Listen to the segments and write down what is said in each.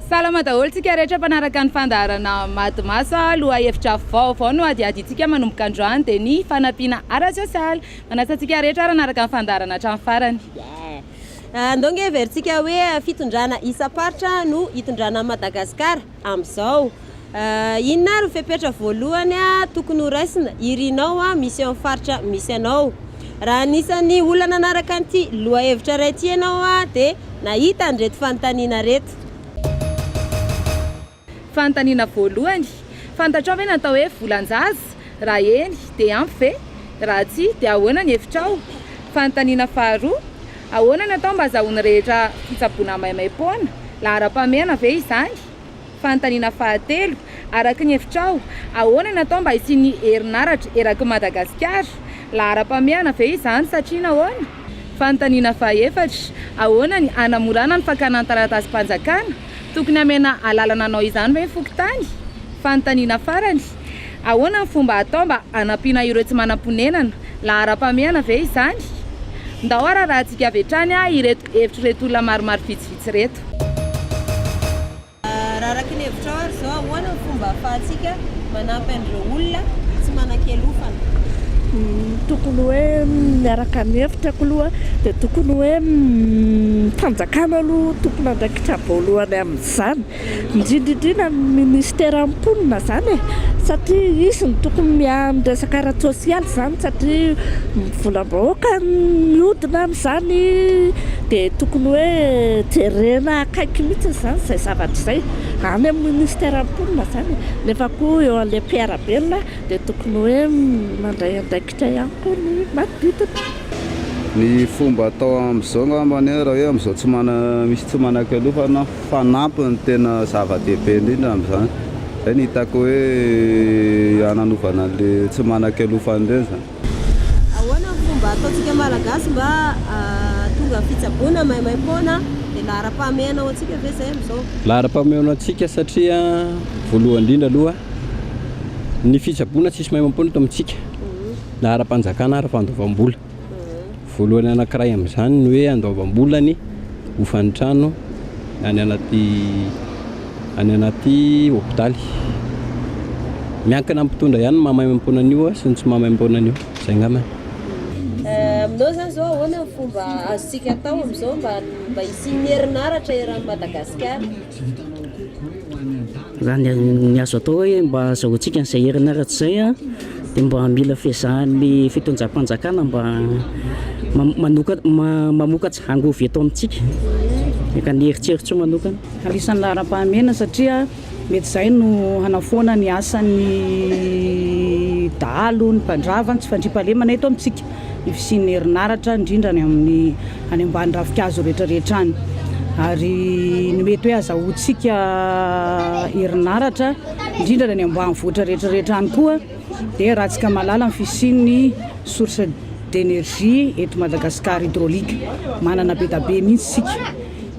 Salama daholo tsika rehetra mpanaraka ny fandaharana Maty Maso a! Lohahevitra vaovao no hadiadintsika manomboka androany dia ny fanampiana ara-tsosialy. Manasa antsika rehetra ary hanaraka ny fandaharana hatramin'ny farany. Andao ange heverintsika hoe fitondrana isam-paritra no hitondrana an'i Madagasikara amin'izao. Inona ary ny fepetra voalohany tokony ho raisina? Irinao misy eo amin'ny faritra misy anao. Raha anisan'ny olona nanaraka an'ity lohahevitra iray ity ianao dia nahita an'ireto fanontaniana ireto. Fanontaniana voalohany, Fantatrao ve ny atao hoe volan-jaza? Raha eny, dia ampy ve? Raha tsia, dia ahoana ny hevitrao? Fanontaniana faharoa, Ahoana no atao mba hazahoan'ny rehetra fitsaboana maimaim-poana? Laharam-pahamehana ve izany? Fanontaniana fahatelo, Araka ny hevitrao, ahoana no atao mba hisian'ny herinaratra eraky ny Madagasikara? Laharam-pahamehana ve izany, satria nahoana? Fanontaniana fahaefatra, Ahoana ny hanamorana ny fakana ny taratasim-panjakana? Tokony hamena alalana hanao izany ve ny fokontany? Fanontaniana farany, Ahoana ny fomba atao mba hanampiana ireo tsy manam-ponenana? Laharam-pahamehana ve izany? Ndao hararahantsika avy hatrany ireto hevitr'ireto olona maromaro vitsivitsy ireto. Raha araka ny hevitrao ary izao, ahoana ny fomba ahafahantsika Manampy an'ireo olona tsy manan-kialofana. Tokony hoe miaraka mihevitra ko aloha dia tokony hoe ny fanjakana aloha tompon'andraikitra voalohany amin'izany indrindra indrindra ny ministera mponina izany e! satria izy no tokony miahy ny resaka ara-tsosialy izany satria volam-bahoaka no mihodina amin'izany dia tokony hoe jerena akaiky mihitsy izany izay zavatra izay. Any amin'ny ministeran'ny mponina izany e. Nefa koa eo an'ilay mpiara-belona dia tokony hoe mandray andraikitra ihany koa ny manodidina. Ny fomba atao amin'izao angamba anie raha hoe amin'izao tsy mana- misy tsy manan-kialofana fanampiny no tena zava-dehibe indrindra amin'izany. Izay no hitako hoe hananovana an'ilay tsy manan-kialofana ireny izany. Ahoana ny fomba ataontsika Malagasy mba hahatonga ny fitsaboana maimaim-poana? Dia laharam-pahamehana ho antsika ve izay amin'izao? Laharam-pahamehana ho antsika satria voalohany indrindra aloha ny fitsaboana tsisy maimaim-poana eto amintsika na ara-panjakana, ara-pandoavam-bola. Voalohany anankiray amin'izany ny hoe andoavam-bola ny hofan'ny trano any anaty any anaty hopitaly. Miankina amin'ny mpitondra ihany ny maha maimaimpoana an'io sy ny tsy maha maimaimpoana an'io. Izay angambany. Aminao zany zao ahoana ny fomba azontsika atao amin'izao mba mba hisian'ny herinaratra eran'i Madagasikara? Raha ny azo atao hoe mba azahoantsika an'izay herinaratra izay dia mba mila fiezahan'ny fitondram-panjakana mba mamokatra angovy eto amintsika, ka ny eritreritro manokana. Anisan'ny laharam-pahamehana satria mety izay no hanafoana ny asan'ny dahalo, ny mpandrava, ny tsy fandriampahalemana eto amintsika. ny fisian'ny herinaratra indrindra any amin'ny any ambany ravinkazo rehetrarehetra any ary ny mety hoe azahoantsika herinaratra indrindra ny any ambanivohitra rehetrarehetra any koa dia raha tsika malala ny fisian'ny source d'énergie eto Madagascar hydraulique manana be dia be mihintsy isika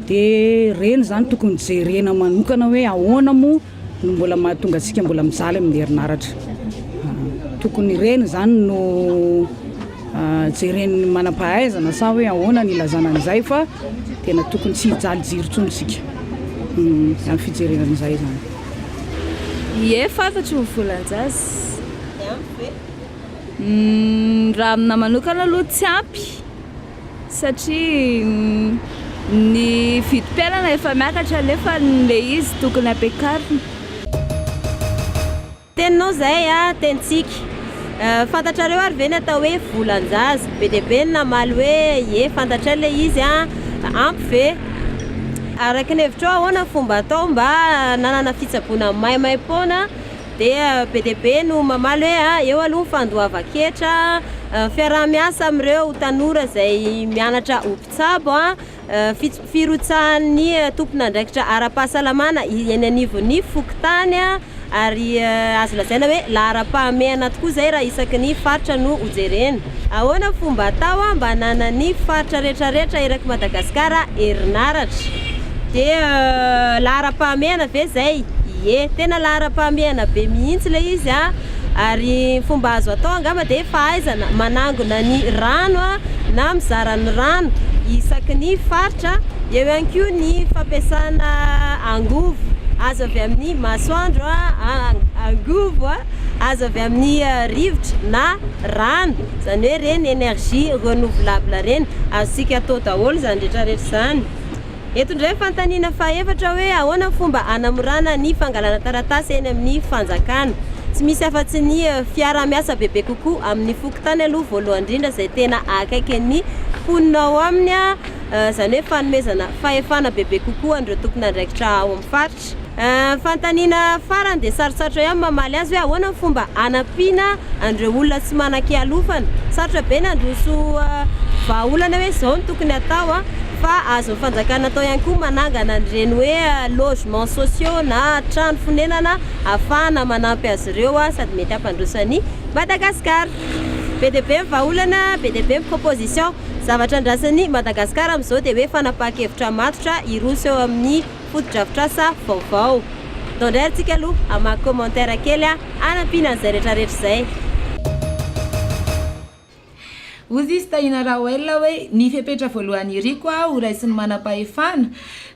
dia ireny izany tokony jerena manokana hoe ahoana moa no mbola mahatonga antsika mbola mijaly amin'ny herinaratra. Tokony ireny izany no jeren'ny manam-pahaizana sa hoe ahoana ny ilazana an'izay fa tena tokony tsy hijaly jiro intsony isika hmm, amin'ny fijerena an'izay izany. Ie, fatatro ny volan-jaza. Hmm, raha amina manokana aloha tsy ampy. satria ny vidim-piainana efa miakatra nefa ilay izy tokony ampiakarina. Teninao izay a tenintsika. Fantatrareo ary ve ny atao hoe volan-jaza? Be dia be ny namaly hoe ie fantatray ilay izy a! Ampy ve? Araka ny hevitrao ahoana ny fomba atao mba hananana fitsaboana maimaim-poana Dia be dia be no mamaly hoe ah, eo aloha ny fandoavan-ketra ah, fiaraha-miasa amin'ireo tanora izay mianatra ho mpitsabo ah, fits- firotsahan'ny tompon'andraikitra ara-pahasalamana eny anivon'ny fokontany ah, ary azo lazaina hoe laharam-pahamehana tokoa izay raha isaky ny faritra no hojerena. Ahoana fomba atao mba hananan'ny faritra rehetra rehetra erak'i Madagasikara herinaratra? Dia laharam-pahamehana ve izay? Ie, tena laharam-pahamehana be mihitsy ilay izy an! Ary ny fomba azo atao angamba dia fahaizana manangona ny rano an, na mizara ny rano isaky ny faritra, eo ihany koa ny fampiasana angovo azo avy amin'ny masoandro an, angovo azo avy amin'ny rivotra na. rano, izany hoe ireny énergie renouvelable ireny, azontsika atao daholo izany rehetra rehetra izany. Eto indray ny fanontaniana fahaefatra hoe ahoana ny fomba hanamorana ny fangalana taratasy eny amin'ny fanjakana. Tsy misy afa-tsy ny fiaraha miasa bebe kokoa amin'ny fokontany aloha voalohany indrindra izay tena akaiky ny mponina ao aminy, izany hoe fanomezana fahefana bebe kokoa an'ireo tompon'andraikitra ao amin'ny faritra. lavitra. Ny fanontaniana farany dia sarotsarotra ihany ny mamaly azy hoe ahoana ny fomba hanampiana an'ireo olona tsy manan-kialofana. Sarotra be ny handroso vahaolana hoe izao no tokony hatao fa azon'ny fanjakana atao ihany koa ny manangana an'ireny hoe logements sociaux na trano fonenana ahafahana manampy azy ireo sady mety hampandroso an'i Madagasikara. Be dia be ny vahaolana, be dia be ny proposition. Zavatra andrasan'i Madagasikara amin'izao dia hoe fanapahan-kevitra matotra hiroso eo amin'ny. fotodrafitrasa vaovao. Atao indray antsika aloha hamaky commentaire kely hanampiana an'izay rehetrarehetra izay. Hozy izy Tahiana Raoel hoe ny fepetra voalohany iriko aho ho raisin'ny manampahefana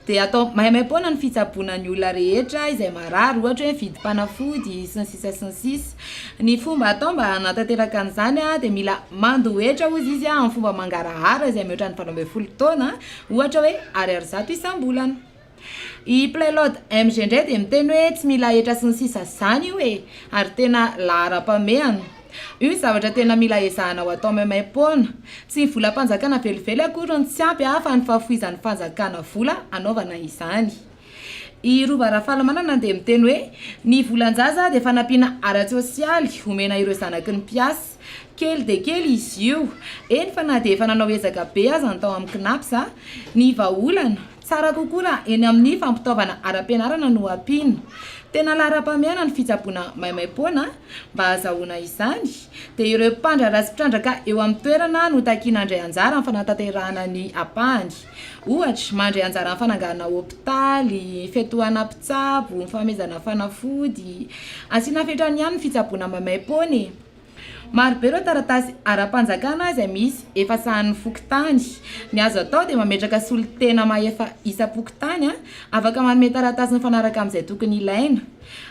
dia atao maimaimpoana ny fitsaboana ny olona rehetra izay marary ohatra hoe vidim-panafody sy ny sisa sy ny sisa. Ny fomba atao mba hanatanteraka an'izany dia mila mandohetra hozy izy amin'ny fomba mangarahara izay mihoatra ny valo ambin'ny folo taona Ohatra hoe ariary zato isam-bolana. I Playlord MG indray dia miteny hoe tsy mila hetra sy ny sisa izany io e! ary tena laharam-pamehana. Io ny zavatra tena mila ezahana ho atao maimaim-poana. Tsy ny volam-panjakana velively akory no tsy ampy fa ny fahafoizan'ny fanjakana vola hanaovana izany. I Rova Rafalimanana dia miteny hoe, Ny volan-jaza dia fanampiana ara-tsosialy omena ireo zanaky ny mpiasa. Kely dia kely izy io, eny fa na dia efa nanao ezaka be aza ny tao amin'ny Cnaps. Ny vahaolana, tsara kokoa raha eny amin'ny fampitaovana ara-pianarana no ampiana. Tena laharam-pahamehana ny fitsaboana maimaim-poana. Mba hahazahoana izany, dia ireo mpandraharaha sy mpitrandraka eo amin'ny toerana no takiana handray anjara amin'ny fanatanterahana ny ampahany. Ohatra, mandray anjara amin'ny fananganana hopitaly, fiantohana mpitsabo, ny fanomezana fanafody. Asiana fetrany ihany ny fitsaboana maimaim-poana e! Maro be ireo taratasy ara-panjakana izay misy efa sahanin'ny fokontany. Ny azo atao dia mametraka solontena mahefa isam-pokontany afaka manome taratasy mifanaraka amin'izay tokony ilaina.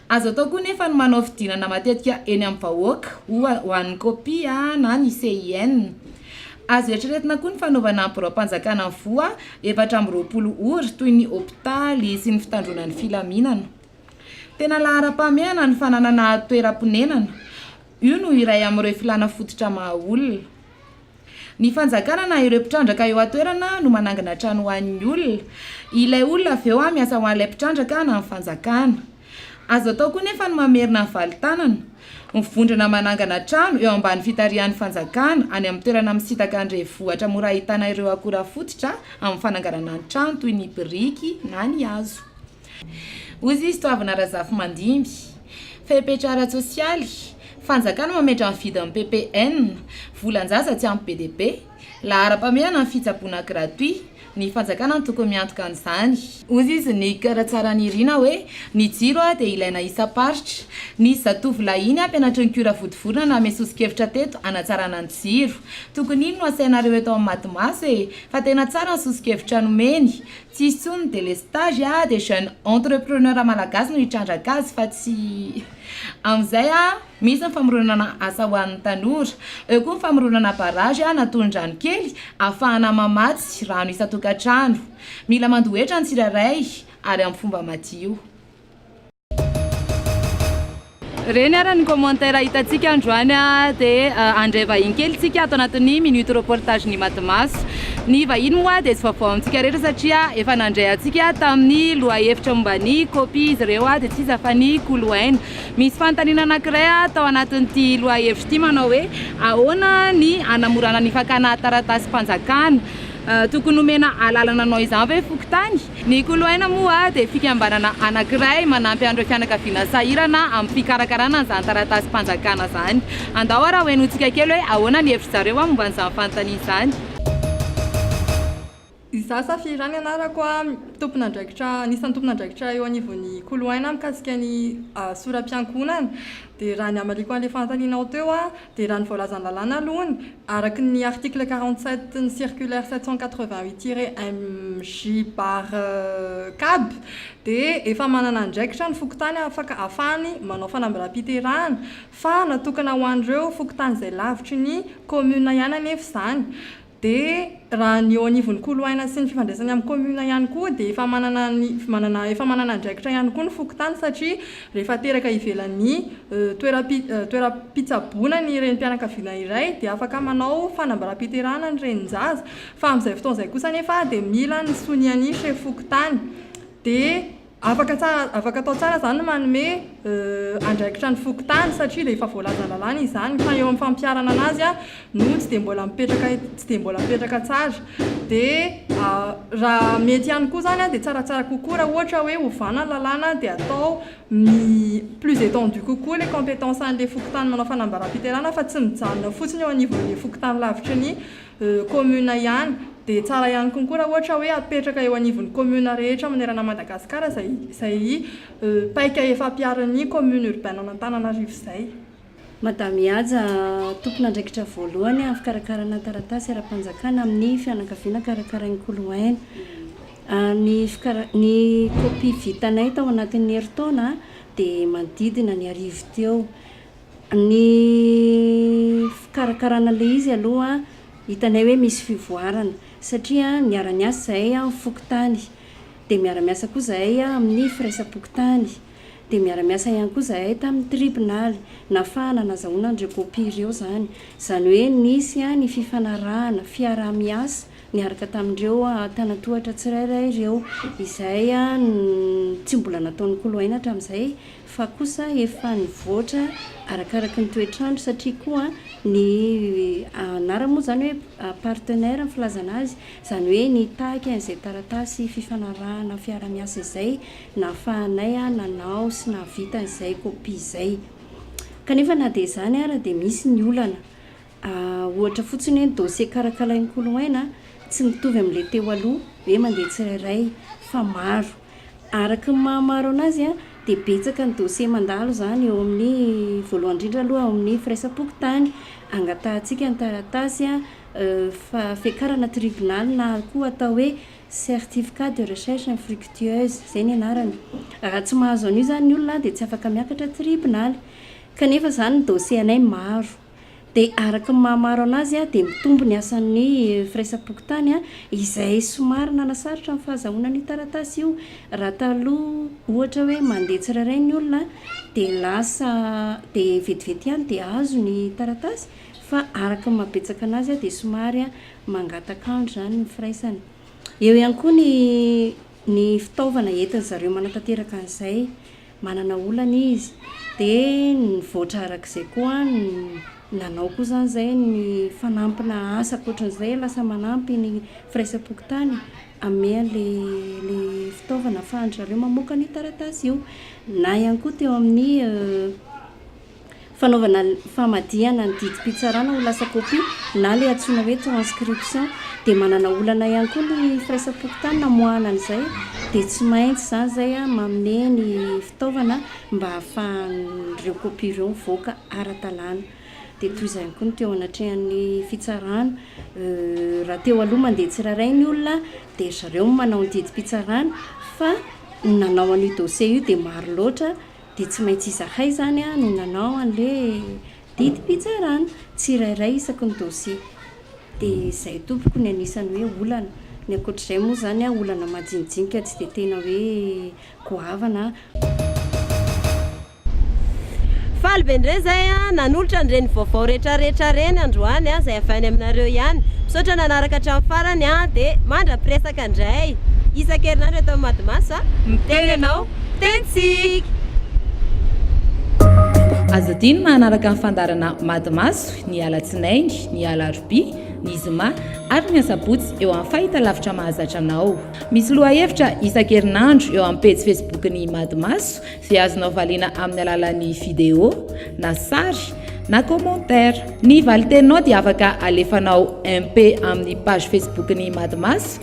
Azo atao koa anefa ny manao fidinana matetika eny amin'ny vahoaka, ho an'ny COPPI na ny CIN. Azo eritreretina koa ny fanaovana biraom-panjakana ny voa efatra amby roapolo ora, toy ny hopitaly sy ny fitandroana ny filaminana. Tena laharam-pahamehana ny fananana toeram-ponenana, io no iray amin'ireo filàna fototra maha olona. Ny fanjakana na ireo mpitrandraka eo an-toerana no manangana trano ho an'ny olona, ilay olona avy eo miasa ho an'ilay mpitrandraka na ny fanjakana. Azo atao koa nefa ny mamerina ny valin-tanana, mivondrona manangana trano eo ambany fitarihan'ny fanjakana any amin'ny toerana misintaka ny renivohitra mora ahitana ireo akora fototra amin'ny fananganana ny trano toy ny biriky na ny hazo. Hoy Zisitoavina Razafimandimby, fepetra ara-tsosialy, Fanjakana mametra ny vidin'ny PPN, volan-jaza tsy ampy be dia be, Laharam-pahamehana ny fitsaboana gratuit, ny fanjakana no tokony miantoka an'izany. Hoy izy nikara tsara nirina hoe, ny jiro dia ilaina isam-paritra. Nisy zatovolahy iny mpianatry ny Cura Vodivorona nanome soso-kevitra teto hanatsarana ny jiro. Tokony iny no asainareo eto amin'ny Matimaso e! Fa tena tsara ny soso-kevitra nomeny. Tsy hisy intsony ny délestage dia jeune entrepreneur malagasy no hitrandraka azy fa tsy amin'izay. Misy ny famoronana asa ho an'ny tanora. Eo koa ny famoronana barrage na tolon-drano kely ahafahana mamatsy rano isan-tokantrano. Mila mandohetra ny tsirairay ary amin'ny fomba madio. Ireny ary ny commentaires hitantsika androany dia handray vahiny kely isika ato anatin'ny minute reportage ny Matimaso. Ny vahiny moa dia tsy vaovao amintsika rehetra satria efa nandray antsika tamin'ny lohahevitra momba ny copie izy ireo dia tsy iza fa ny Kolo Aina. Misy fanontaniana anankiray ato anatin'ity lohahevitra ity manao hoe ahoana ny hanamorana ny fakana taratasim-panjakana? Tokony omena alalana hanao izany ve fokontany? Ny Koloaina moa dia fikambanana anankiray manampy an'ireo fianakaviana sahirana amin'ny fikarakarana an'izany taratasim-panjakana izany. Andao ary hohenointsika kely hoe ahoana ny hevitry zareo momba an'izany fanontaniana izany. Izaho Safira ny anarako a, tompon'andraikitra, anisan'ny tompon'andraikitra eo anivon'ny Koloaina mikasika ny sora-piankohonana. Dia raha ny hamariako an'ilay fanontanianao teo a, dia raha ny voalazan'ny lalàna aloha ny, araka ny article quarante sept ny circulaire sept cent quatre vingt huit tiret MJ bar CAB dia efa manana andraikitra ny fokontany afaka ahafahany manao fanambaràm-piterahana fa natokana ho an'ireo fokontany izay lavitry ny commune ihany anefa izany Dia raha ny eo anivon'ny koloaina sy ny fifandraisany amin'ny commune ihany koa dia efa manana ny manana efa manana andraikitra ihany koa ny fokontany satria rehefa teraka ivelan'ny toeram-pi toeram-pitsaboana ny renim-pianakaviana iray dia afaka manao fanambaràm-piterahana ny renin-jaza fa amin'izay fotoana izay kosa anefa dia mila ny sonian'ny chef fokontany dia Afaka tsara, afaka atao tsara izany ny manome andraikitra ny fokontany satria dia efa voalazan'ny lalàna izany fa eo amin'ny fampiharana an'azy no tsy dia mbola mipetraka, tsy dia mbola mipetraka tsara. Dia raha mety ihany koa izany dia tsaratsara kokoa raha ohatra hoe ovana ny lalàna dia atao plus étendue kokoa ilay compétence an'ilay fokontany manao fanambaràm-piterahana fa tsy mijanona fotsiny eo anivon'ny fokontany lavitry ny commune ihany. Dia tsara ihany konkoa raha ohatra hoe apetraka eo anivon'ny commune rehetra manerana an'i Madagasikara izay izay paika efa ampiharin'ny commune urbaine an'Antananarivo izay. Madame Haja, tompon'andraikitra voalohany amin'ny fikarakarana taratasy ara-panjakana amin'ny fianakaviana karakarain'i Koloaina. Ny fikara-, ny kopia vitanay tao anatin'ny herintaona dia manodidina ny arivo teo. Ny fikarakarana ilay izy aloha hitanay hoe misy fivoarana satria miara-miasa izahay amin'ny fokontany, dia miara-miasa koa izahay amin'ny firaisam-pokontany, dia miara-miasa ihany koa izahay tamin'ny tribonaly, nahafahana nazahoana an'ireo kopia ireo izany. Izany hoe nisy ny fifanarahana, fiaraha-miasa niaraka tamin'ireo tanantohatra tsirairay ireo, izay tsy mbola nataon'ny koloaina hatramin'izay fa kosa efa nivoatra arakaraky ny toetr'andro satria koa ny anarany moa izany hoe partenaire ny filazana azy, izany hoe nitaky an'izay taratasy fifanarahana fiarahamiasa izay nahafahanay nanao sy nahavita an'izay kopia izay. Kanefa na dia izany ara dia misy ny olana Ah, ohatra fotsiny hoe ny dossier karakalain'i Koloaina tsy mitovy amin'ilay teo aloha hoe mandeha tsirairay fa maro. Araka ny maha maro anazy dia betsaka ny dossier mandalo izany eo amin'ny, voalohany indrindra aloha ao amin'ny firaisam-pokontany, angatahantsika ny taratasy fa fiakarana tribonaly na koa atao hoe certificat de recherche infructueuse, izay ny anarany. Raha tsy mahazo an'io izany ny olona dia tsy afaka miakatra tribonaly. Kanefa izany ny dossier anay maro. Dia araka ny maha maro anazy dia mitombo ny asan'ny firaisam-pokontany izay somary nanasarotra ny fahazahoana an'io taratasy io. Raha taloha ohatra hoe mandeha tsirairay ny olona dia lasa dia vetivety ihany dia azo ny taratasy fa araka ny maha betsaka anazy dia somary mangataka andro izany ny firaisana. Eo ihany koa ny Ny fitaovana entin-dry zareo manatanteraka an'izay, manana olana izy, dia nivoatra araka izay koa ny nanao koa izany izay ny fanampina asa ankoatran'izay lasa manampy ny firaisam-pokontany hanome an'ilay fitaovana ahafahan-dry zareo mamoaka an'io taratasy io. Na ihany koa teo amin'ny. Fanaovana famadihana ny didim-pitsarana ho lasa kopia na ilay antsoina hoe transcription. Dia manana olana ihany koa ny firaisam-pokontany namoahana an'izay dia tsy maintsy izany izay manome ny fitaovana mba hahafahan'ireo kopia ireo mivoaka ara-dalàna. Dia toy izany koa ny teo anatrehan'ny fitsarana. Raha teo aloha mandeha tsirairay ny olona dia ry zareo no manao ny didim-pitsarana fa ny nanao an'io dossier io dia maro loatra dia tsy maintsy izahay izany no nanao an'ilay didim-pitsarana tsirairay isaky ny dosie. Dia izay tompoko ny anisan'ny hoe olana. Ny ankoatr'izay moa izany olana majinijinika tsy dia tena hoe goavana. Faly be indray izay nanolotra an'ireny vaovao retraretra ireny androany izay avy any aminareo ihany. Misaotra nanaraka hatramin'ny farany dia mandra-piresaka indray isan-kerinandro eto amin'ny Madimaso a! Miteny ianao. Tentsiky! Aza adino ny manaraka ny fandaharana Mady Maso ny alatsinainy, ny alarobia, ny zoma ary ny asabotsy eo amin'ny fahitalavitra mahazatra anao. Misy lohahevitra isan-kerinandro eo amin'ny pejy Facebook-n'ny Mady Maso izay azonao valiana amin'ny alalan'ny video na sary na commentaire. Ny valin-teninao dia afaka alefanao MP amin'ny page Facebook-n'ny Mady Maso